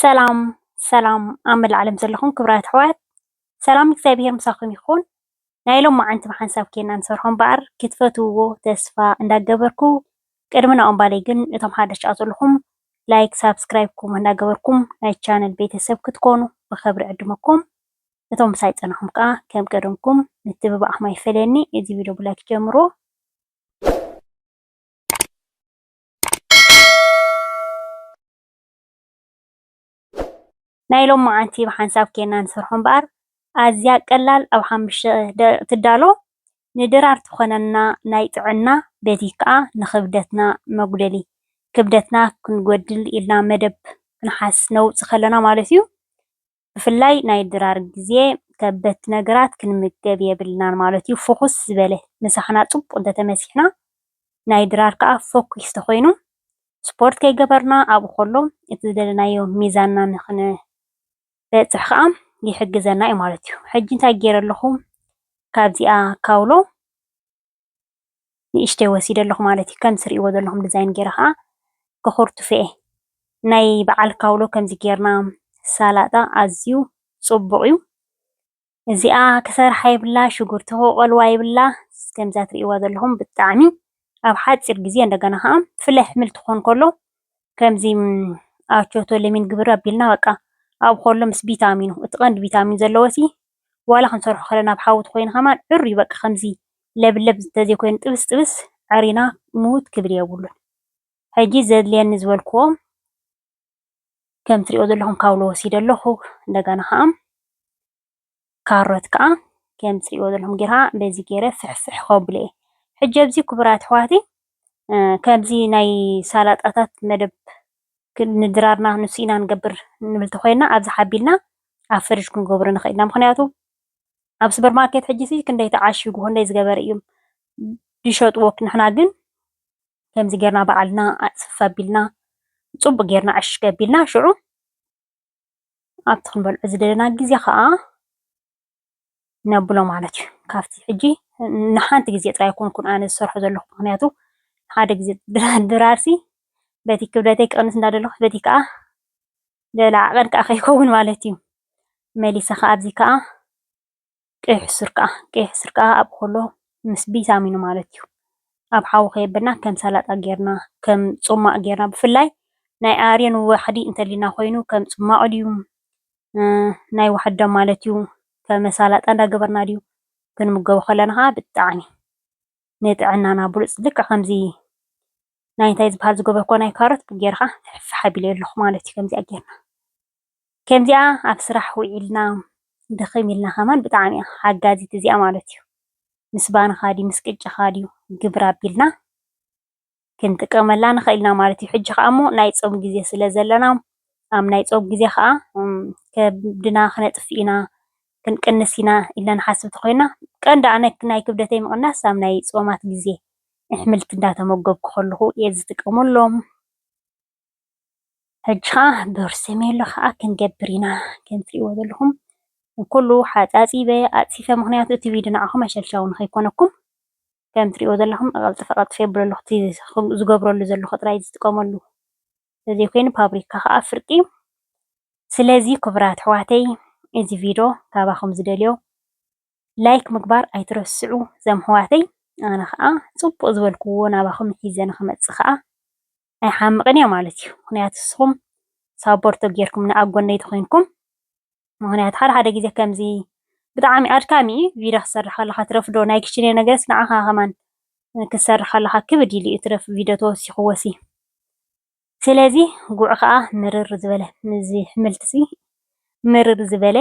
ሰላም ሰላም ኣብ መላእ ዓለም ዘለኹም ክብራት ኣሕዋት ሰላም እግዚኣብሄር ምሳኹም ይኹን። ናይ ሎም መዓንቲ ብሓንሳብ ኬና ንሰርሖ እምበኣር ክትፈትውዎ ተስፋ እንዳገበርኩ ቅድሚ ናኦም ባለይ ግን እቶም ሓደሽቲ ኣብ ዘለኹም ላይክ ሳብስክራይብ ኮሞ እንዳገበርኩም ናይ ቻነል ቤተሰብ ክትኮኑ ብኸብሪ ዕድመኩም እቶም ምሳይ ጸናኹም ከዓ ከም ቀደምኩም ምትብባዕኹም ኣይፈለየኒ እዚ ቪድዮ ብላይክ ጀምሮ ናይ ሎማዓንቲ ብሓንሳብ ኬና ንሰርሖ እምበኣር ኣዝያ ቀላል ኣብ ሓሙሽተ ደቂቅ ትዳሎ ንድራር ትኾነና ናይ ጥዕና በቲ ክኣ ንኽብደትና መጉደሊ ክብደትና ክንጎድል ኢልና መደብ ክንሓስ ነውጽ ከለና ማለት እዩ ብፍላይ ናይ ድራር ግዜ ከበድቲ ነገራት ክንምገብ የብልናን ማለት እዩ። ፍኹስ ዝበለ ምሳሕና ጽቡቕ እንተተመሲሕና ናይ ድራር ከኣ ፈኲስ ተኾይኑ ስፖርት ከይገበርና ኣብኡ ከሎ እቲ ዝደለናዮ ሚዛንና ንኽንበጽሕ ከኣ ይሕግዘና እዩ ማለት እዩ። ሕጂ እንታይ ጌረ ኣለኹ ካብዚኣ ካውሎ ንእሽተይ ወሲደ ኣለኹ ማለት እዩ። ከምዚ ትሪእዎ ዘለኹም ዲዛይን ገይረ ከዓ ከኹርትፎ'የ። ናይ በዓል ካውሎ ከምዚ ጌርና ሳላጣ ኣዝዩ ፅቡቕ እዩ። እዚኣ ክሰርሓ የብላ፣ ሽጉርቲ ክቐልዋ የብላ። ከምዛ ትሪእዋ ዘለኹም ብጣዕሚ ኣብ ሓፂር ግዜ እንደገና ከዓ ፍለ ሕምል ትኾን ከሎ ከምዚ ኣቾቶ ለሚን ግብር ኣቢልና በቃ ኣብ ከሎ ምስ ቪታሚኑ እቲ ቀንዲ ቪታሚን ዘለዎ ሲ ዋላ ክንሰርሖ ከለና ኣብ ሓዊ ተኮይኑ ከማን ዑር እዩ በቃ ከምዚ ለብለብ ተዘይኮይኑ ጥብስ ጥብስ ዐሪና ምውት ክብል የብሉን ሕጂ ዘድልየኒ ዝበልክዎም ከም ትሪእዎ ዘለኩም ካውሎ ወሲደ ኣለኩ እንደገና ከኣ ካሮት ከኣ ከም ትሪእዎ ዘለኩም ጌራ በዚ ጌረ ፍሕፍሕ ከብሎ እየ ሕጂ ኣብዚ ክቡራት ኣሕዋተይ ከምዚ ናይ ሳላጣታት መደብ ንድራርና ንሱ ኢና ንገብር ንብል ተኾይና ኣብዚ ሓቢልና ኣብ ፍርጅ ክንገብሮ ንኽእል ኢና ምኽንያቱ ኣብ ሱፐር ማርኬት ሕጂ ሲ ክንደይ ተዓሽጉ ክንደይ ዝገበረ እዮም ዝሸጥዎ ንሕና ግን ከምዚ ጌርና በዓልና ኣፅፍፍ ኣቢልና ፅቡቅ ጌርና ዕሽግ ኣቢልና ሽዑ ኣብቲ ክንበልዖ ዝደለና ግዜ ከዓ ነብሎ ማለት እዩ። ካብቲ ሕጂ ንሓንቲ ግዜ ጥራይ ኣይኮንኩን ኣነ ዝሰርሖ ዘለኹ ምኽንያቱ ሓደ ግዜ ድራርሲ በቲ ክብደተይ ክቕንስ እንዳደለኹ በቲ ከዓ ገለ ዓቐን ከዓ ከይከውን ማለት እዩ። መሊሰ ከዓ ኣብዚ ከዓ ቀይሕ ሱር ከዓ ቀይሕ ሱር ከዓ ኣብ ኮሎ ምስ ቢታሚኑ ማለት እዩ ኣብ ሓዊ ከየብልና ከም ሰላጣ ጌርና ከም ጹማቕ ጌርና ብፍላይ ናይ ኣርዮን ዋሕዲ እንተሊና ኮይኑ ከም ጽማቕ ድዩ ናይ ዋሕዲ ደም ማለት እዩ ከመሳላጣ እንዳገበርና ድዩ ክንምገቦ ከለና ከዓ ብጣዕሚ ንጥዕናና ብሉፅ ልክዕ ከምዚ ናይ እንታይ ዝበሃል ዝገበርኩ ናይ ካሮት ጌርካ ፍሕፍሕ ኣቢለዮ ኣለኩ ማለት እዩ ከምዚኣ ጌርና ከምዚኣ ኣብ ስራሕ ውዒልና ድኽም ኢልና ከማን ብጣዕሚ እያ ሓጋዚት እዚኣ ማለት እዩ ምስ ባንኻ ድዩ ምስ ቅጫኻ ድዩ ግብር ኣቢልና ክንጥቀመላ ንኽእል ኢና ማለት እዩ። ሕጂ ከኣ እሞ ናይ ጾም ግዜ ስለ ዘለና ኣብ ናይ ጾም ግዜ ከኣ ከብድና ክነጥፍ ኢና ክንቅንስ ኢና ኢልና ንሓስብ እንተኾይና ቀንዲ ኣነ ናይ ክብደተይ ምቕናስ ኣብ ናይ ጾማት ግዜ ኣሕምልቲ እንዳተመገብኩ ከለኹ እየ ዝጥቀመሎም። ሕጂ ከኣ በርሲሜሎ ከኣ ክንገብር ኢና ከም ትርእይዎ ዘለኹም ኩሉ ሓጻጺበ ኣጽፊፈ ምኽንያቱ እቲ ቪድዮ ንዓኹም ኣሸልሻዊ ንኸይኮነኩም ከም እትሪእዎ ዘለኹም ቀልጠፍ ቀልጠፍ የብለሉ እቲ ዝገብረሉ ዘለኹ ጥራይ እዩ ዝጥቀመሉ ስለዚ ኮይኑ ፋብሪካ ከኣ ፍርቂ እዩ ስለዚ ክቡራት ኣሕዋተይ እዚ ቪድዮ ካባኹም ዝደልዮ ላይክ ምግባር ኣይትረስዑ እዞም ኣሕዋተይ ኣነ ከኣ ጽቡቅ ዝበልክዎ ናባኹም ሒዘ ንኽመጽእ ከኣ ኣይሓምቕን እየ ማለት እዩ። ምክንያቱ ንስኹም ሳፖርት ተጌርኩምኒ ኣብ ጎነይ ተኾይንኩም ምክንያቱ ሓደ ሓደ ግዜ ከምዚ ብጣዕሚ ኣድካሚ እዩ ቪድዮ ክትሰርሕ ከለካ ትረፍዶ ናይ ክሽነ ነገርስ ንዓኻ ከማን ክትሰርሕ ከለካ ክብድ ኢሉ እዩ ትረፍ ቪድዮ ተወሲኹ ወሲ ስለዚ ጉዕ ከዓ ምርር ዝበለ ምዚ ሕምልቲ ሲ ምርር ዝበለ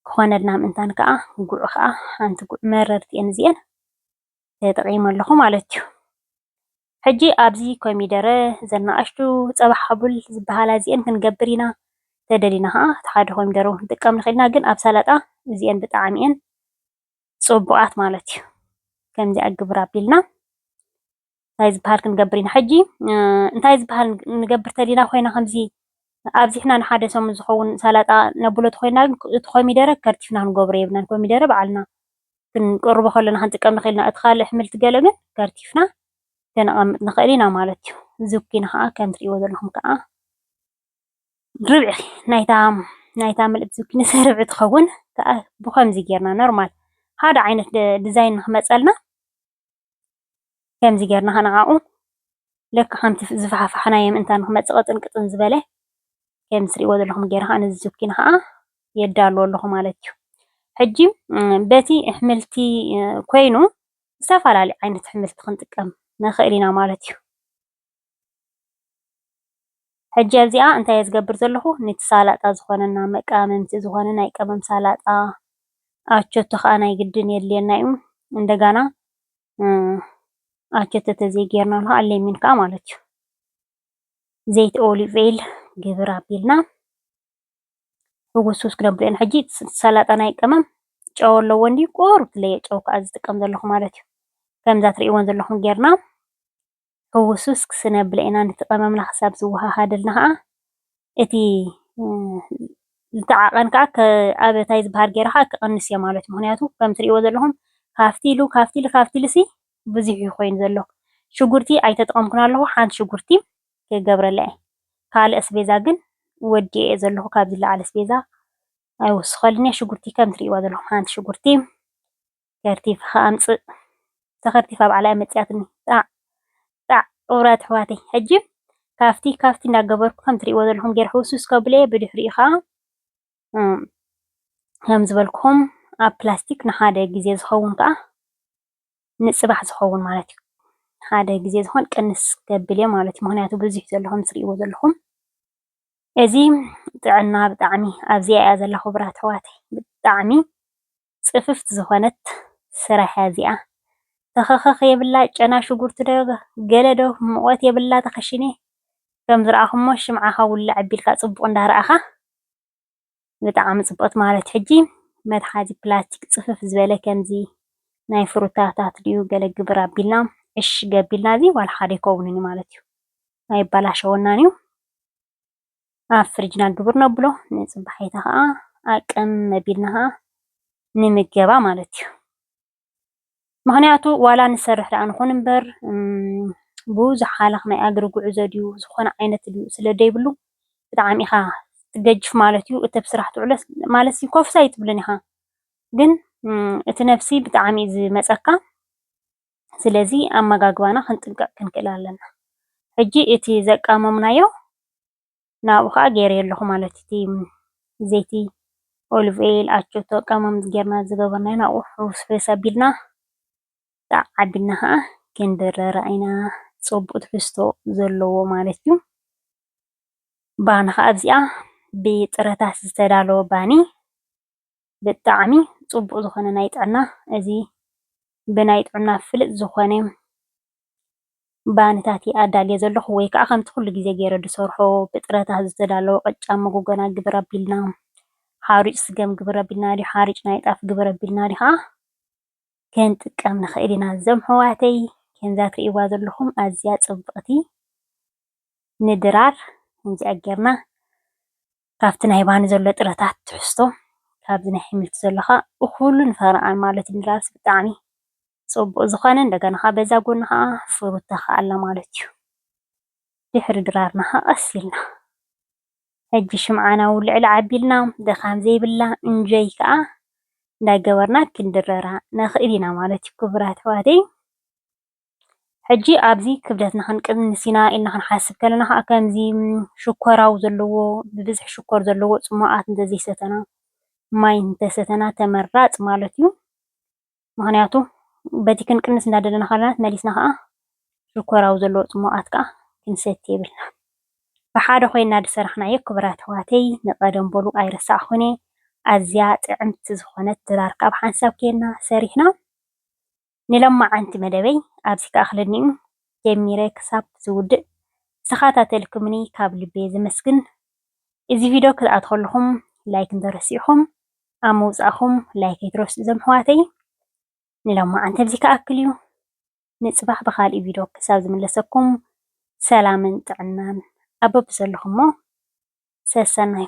ክኾነልና ምእንታን ከዓ ጉዕ ከዓ ሓንቲ ጉዕ መረርቲ እየን እዚአን ተጠቂመ ኣለኩ ማለት እዩ። ሕጂ ኣብዚ ኮሚደረ እዘን ንኣሽቱ ጸባ ሓቡል ዝበሃላ እዚኤን ክንገብር ኢና ተደሊና ከኣ እቲ ሓደ ኮሚደረ ውን ክንጥቀም ንክእል ኢና ግን ኣብ ሰላጣ እዚኤን ብጣዕሚ እየን ጽቡቃት ማለት እዩ። ከምዚኣ ግብር ኣቢልና እንታይ ዝበሃል ክንገብር ኢና ሕጂ እንታይ ዝበሃል ንገብር ተሊና ኮይና ከምዚ ኣብዚሕና ንሓደ ሰሙን ዝኸውን ሰላጣ ነብሎ ተኮይና ግን እቲ ኮሚደረ ከርቲፍና ክንገብሮ የብልናን ኮሚደረ በዓልና ክንቅርቦ ከለና ክንጥቀም ንኽእል ኢና እቲ ካልእ ኣሕምልቲ ገለ ግን ከርቲፍና ከነቐምጥ ንኽእል ኢና ማለት እዩ ዝኩኒ ከዓ ከም ትሪእዎ ዘለኹም ከዓ ርብዒ ናይታ ናይታ ምልእቲ ዝኩኒ ርብዒ ትኸውን ከዓ ብከምዚ ጌርና ኖርማል ሓደ ዓይነት ዲዛይን ንክመፀልና ከምዚ ጌርና ከነዓቑ ልክዕ ከምቲ ዝፈሓፋሕናዮ ምእንታን ንኽመጽእ ቅጥን ቅጥን ዝበለ ከምዚ ትርእይዎ ዘለኹም ጌረ ከኣ ነዚ ዝኩኒ ከኣ የዳሉ ኣለኹ ማለት እዩ። ሕጂ በቲ ኣሕምልቲ ኮይኑ ዝተፈላለዩ ዓይነት ኣሕምልቲ ክንጥቀም ንኽእል ኢና ማለት እዩ። ሕጂ ኣብዚኣ እንታይ እየ ዝገብር ዘለኹ ነቲ ሳላጣ ዝኾነና መቀማምቲ ዝኾነ ናይ ቀመም ሳላጣ ኣቸቶ ከኣ ናይ ግድን የድልየና እዩ እንደጋና ኣቸቶ ተዘይ ጌርና ከኣ ሌሚን ከኣ ማለት እዩ ዘይቲ ኦሊቭ ኦይል ግብር ኣቢልና ሕጉስጉስ ክነብሎ ኢና ሕጂ ሰላጣ ናይ ቀመም ጨው ኣለዎ እንዲዩ ቁሩብ ትለየ ጨው ከኣ ዝጥቀም ዘለኹ ማለት እዩ ከምዛ ትርእይዎን ዘለኹም ጌርና ሕውስውስ ክስነብለ ኢና፣ ነቲ ቀመምና ክሳብ ዝወሃሃደልና ከኣ እቲ ዝተዓቀን ከኣ ኣብ ታይ ዝበሃል ጌሩ ከኣ ክቅንስ እዮ ማለት እዩ ምክንያቱ ከም ትርእይዎ ዘለኩም ካብቲ ኢሉ ካብቲ ኢሉ ካብቲ ኢሉ ሲ ብዙሕ እዩ ኮይኑ ዘሎ ሽጉርቲ ኣይተጠቀምኩን ኣለኩ ሓንቲ ሽጉርቲ ክገብረላ እየ ካልእ ኣስቤዛ ግን ወዲኤ እየ ዘለኩ ካብዚ ዝለዓለ ኣስቤዛ ኣይውስከልንየ ሽጉርቲ ከም ትርእይዋ ዘለኩም ሓንቲ ሽጉርቲ ከርቲፍካ ኣምጽእ ተከርቲፋ ባዕላ እያ መጺኣትኒ ጣዕ ጣዕ ቁቡራት ኣሕዋተይ ሕጂ ካፍቲ ካፍቲ እንዳገበርኩ ከም ትርእይዎ ዘለኹም ጌር ሕውስውስ ከብሎ እየ ብድሕሪኡ ከዓ ከም ዝበልኩም ኣብ ፕላስቲክ ንሓደ ግዜ ዝኸውን ከዓ ንጽባሕ ዝኸውን ማለት እዩ ሓደ ግዜ ዝኾን ቅንስ ገብል እየ ማለት እዩ ምክንያቱ ብዙሕ ዘሎ ከም ትርእይዎ ዘለኹም እዚ ጥዕና ብጣዕሚ ኣብዚኣ እያ ዘላ ክቡራት ኣሕዋተይ ብጣዕሚ ጽፍፍት ዝኮነት ስራሕያ እዚኣ ተኸኸኽ የብላ ጨና ሽጉርቲ ዶ ገለ ዶ ሙቐት የብላ ተኸሺኒ ከም ዝረኣኹሞ ሽምዓኻ ውልዕ ኣቢልካ ጽቡቕ እንዳ ረኣኻ ብጣዕሚ ጽብቕቲ ማለት ሕጂ መትሓዚ ፕላስቲክ ጽፍፍ ዝበለ ከምዚ ናይ ፍሩታታት ድዩ ገለ ግብር ኣቢልና ዕሽ ገቢልና እዚ ዋላ ሓደ ኣይከውንን እዩ ማለት እዩ ኣይባላሸወናን እዩ ኣብ ፍርጅና ግብር ነብሎ ንጽባሒታ ኸኣ ኣቅም መቢልና ኸኣ ንምገባ ማለት እዩ ምክንያቱ ዋላ ንሰርሕ ደኣ ንኹን እምበር ብዙሕ ሃለኽ ናይ ኣግሪ ጉዕዞ ድዩ ዝኾነ ዓይነት ድዩ ስለ ዘይብሉ ብጣዕሚ ኢኻ ትገጅፍ ማለት እዩ እቲ ኣብ ስራሕ ትውዕለስ ማለት ኮፍስ ኣይትብልን ኢኻ ግን እቲ ነብሲ ብጣዕሚ እዩ ዝመጸካ ስለዚ ኣመጋግባና ክንጥንቀቅ ክንክእል ኣለና ሕጂ እቲ ዘቃመምናዮ ናብኡ ከኣ ገይረዮ ኣለኩ ማለት እዩ እቲ ዘይቲ ኦልቭ ኦይል ኣቸቶ ቀመም ገይርና ዝገበርናዮ ናብኡ ሕውስውስ ኣቢልና ከኣ ዓዲምና ከኣ ክንድርራ ኢና ጸቡቅ ትሕዝቶ ዘለዎ ማለት እዩ ባኒ ከኣ ኣብዚኣ ብጥረታት ዝተዳለወ ባኒ ብጣዕሚ ፅቡቅ ዝኮነ ናይ ጥዕና እዚ ብናይ ጥዕና ፍልጥ ዝኮነ ባኒታት እየ ኣዳልየ ዘለኩ ወይ ከዓ ከምቲ ኩሉ ግዜ ገይረ ዝሰርሖ ብጥረታት ዝተዳለወ ቅጫ መጎጎና ግብር ኣቢልና ሓሩጭ ስገም ግብር ኣቢልና ድዩ ሓሩጭ ናይ ጣፍ ግብር ኣቢልና ድዩ ከዓ ክንጥቀም ንክእል ኢና እዞም ሕዋተይ ከምዛ ትርእይዋ ዘለኩም ኣዝያ ፅብቅቲ ንድራር ከምዚኣ ጌርና ካብቲ ናይ ባኒ ዘሎ ጥረታት ትሕዝቶ ካብዚ ናይ ሕምልቲ ዘሎ ከኣ እኹልን ፈረቓን ማለት ንላብሲ ብጣዕሚ ጽቡቕ ዝኾነ እንደገና ከኣ በዛ ጎኒ ከኣ ፍሩታ ከኣ ኣላ ማለት እዩ። ድሕሪ ድራርና ከኣ ቀስ ኢልና ሕጂ ሽምዓና እውን ልዕል ዓቢልና ድኻም ዘይብላ እንጆይ ከኣ እንዳገበርና ክንድረራ ንኽእል ኢና ማለት እዩ ክቡራት ኣሕዋተይ። ሕጂ ኣብዚ ክብደትና ክንቅንስ ኢና ኢልና ክንሓስብ ከለና ከኣ ከምዚ ሽኮራዊ ዘለዎ ብብዝሒ ሽኮር ዘለዎ ጽሟቓት እንተዘይሰተና ማይ እንተሰተና ተመራጺ ማለት እዩ። ምኽንያቱ በቲ ክንቅንስ እናደለና ከለና መሊስና ከኣ ሽኮራዊ ዘለዎ ጽሟቓት ከኣ ክንሰቲ የብልናን። ብሓደ ኮይና ዝሰራሕናዮ ክቡራት ኣሕዋተይ ንቀደም በሉ ኣይረሳዕኩን እየ ኣዝያ ጥዕምቲ ዝኾነት ድራር ከኣ ብሓንሳብ ኬድና ሰሪሕና ንሎማዓንቲ መደበይ ኣብዚ ክኣኽለኒ'ዩ ጀሚረ ክሳብ ዝውድእ ዝተኻታተልኩምኒ ካብ ልቢ ዘመስግን እዚ ቪዶ ክትኣትው ከለኹም ላይክ እንተረሲዕኹም ኣብ ምውጻእኩም ላይክ ኣይትረስዑ እዞም ኣሕዋተይ ንሎማዓንቲ ኣብዚ ክኣክል'ዩ ንጽባሕ ብኻልእ ቪዶ ክሳብ ዝምለሰኩም ሰላምን ጥዕናን ኣብ በብዘለኹሞ ሰሰናዩ።